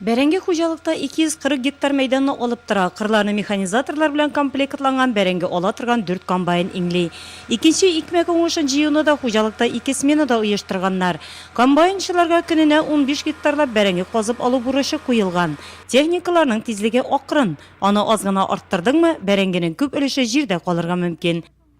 Бәрәңге хуҗалыкта 240 гектар мәйданны алып тора. Кырларны механизаторлар белән комплектланган бәрәңге ала торган дүрт комбайн иңли. Икенче икмәк уңышын җыюны да хуҗалыкта ике сменада оештырганнар. Комбайнчыларга көненә унбиш гектарлап бәрәңге казып алу бурычы куелган. Техникаларның тизлеге акрын. Аны аз гына арттырдыңмы, бәрәңгенең күп өлеше җирдә калырга мөмкин.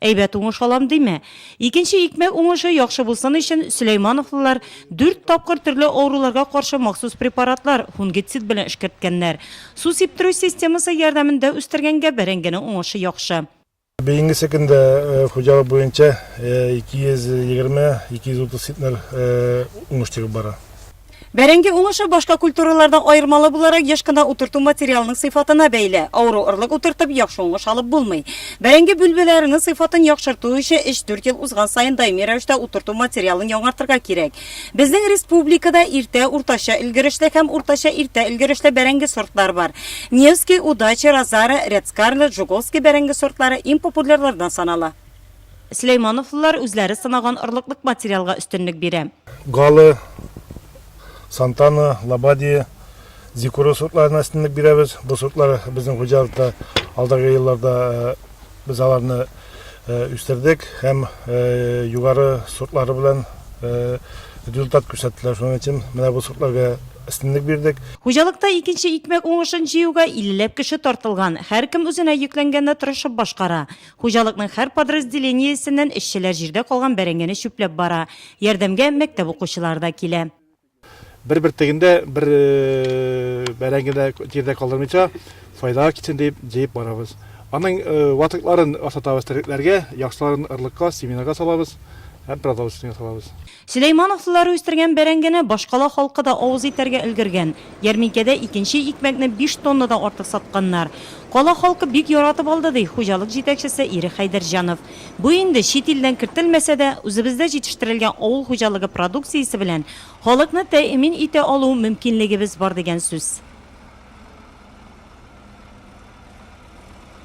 Әйбәт уңыш алам диме? Икенче икмәк уңышы яхшы булсын өчен, сөләймановлылар дүрт тапкыр төрле авыруларга каршы махсус препаратлар, фунгицид белән эшкәрткәннәр. Су сиптерү системасы ярдәмендә үстергәнгә бәрәңгенең уңышы яхшы. Бәйгесе көндә хуҗалык буенча 220-230 центнер уңыш чыгып бара. Бәрәңге уңышы башка культуралардан аермалы буларак еш кына утырту материалының сыйфатына бәйле. Авыру орлык утыртып, яхшы уңыш алып булмый. Бәрәңге бүлбеләренең сыйфатын яхшырту өчен өч-дүрт ел узган саен даими рәвештә утырту материалын яңартырга кирәк. Безнең республикада иртә, уртача өлгерешле һәм уртача иртә өлгерешле бәрәңге сортлары бар. Невский, Удача, Розара, Ряд Скарлетт, Жуковский бәрәңге сортлары иң популярлардан санала. Сөләймановлылар үзләре сынаган орлыклык материалга өстенлек бирә. Галы, Сантана, Лабадия, Зикура сортларына өстенлек бирәбез. Бу сортлар безнең хуҗалыкта алдагы елларда без аларны үстердек һәм югары сортлары белән результат күрсәттеләр. Шуның өчен менә бу сортларга өстенлек бирдек. Хуҗалыкта икенче икмәк уңышын җыюга иллеләп кеше тартылган. Һәркем үзенә йөкләнгәнне тырышып башкара. Хуҗалыкның һәр подразделениесеннән эшчеләр җирдә калган бәрәңгене чүпләп бара. Ярдәмгә мәктәп укучылары да килә. Бер бөртеген дә, бер бәрәңгене дә җирдә калдырмыйча, файдага китсен диеп, җыеп барабыз. Аның ватыкларын асратабыз терлекләргә, яхшыларын орлыкка, семенага салабыз һәм продовольствиегә салабыз. Сөләймановлылар үстергән бәрәңгене башкала халкы да авыз итәргә өлгергән. Ярминкәдә икенче икмәкне биш тоннадан артык сатканнар. Кала халкы бик яратып алды, ди хуҗалык җитәкчесе Ире Хәйдәрҗанов. Бу инде, чит илдән кертелмәсә дә, үзебездә җитештерелгән авыл хуҗалыгы продукциясе белән халыкны тәэмин итә алу мөмкинлегебез бар дигән сүз.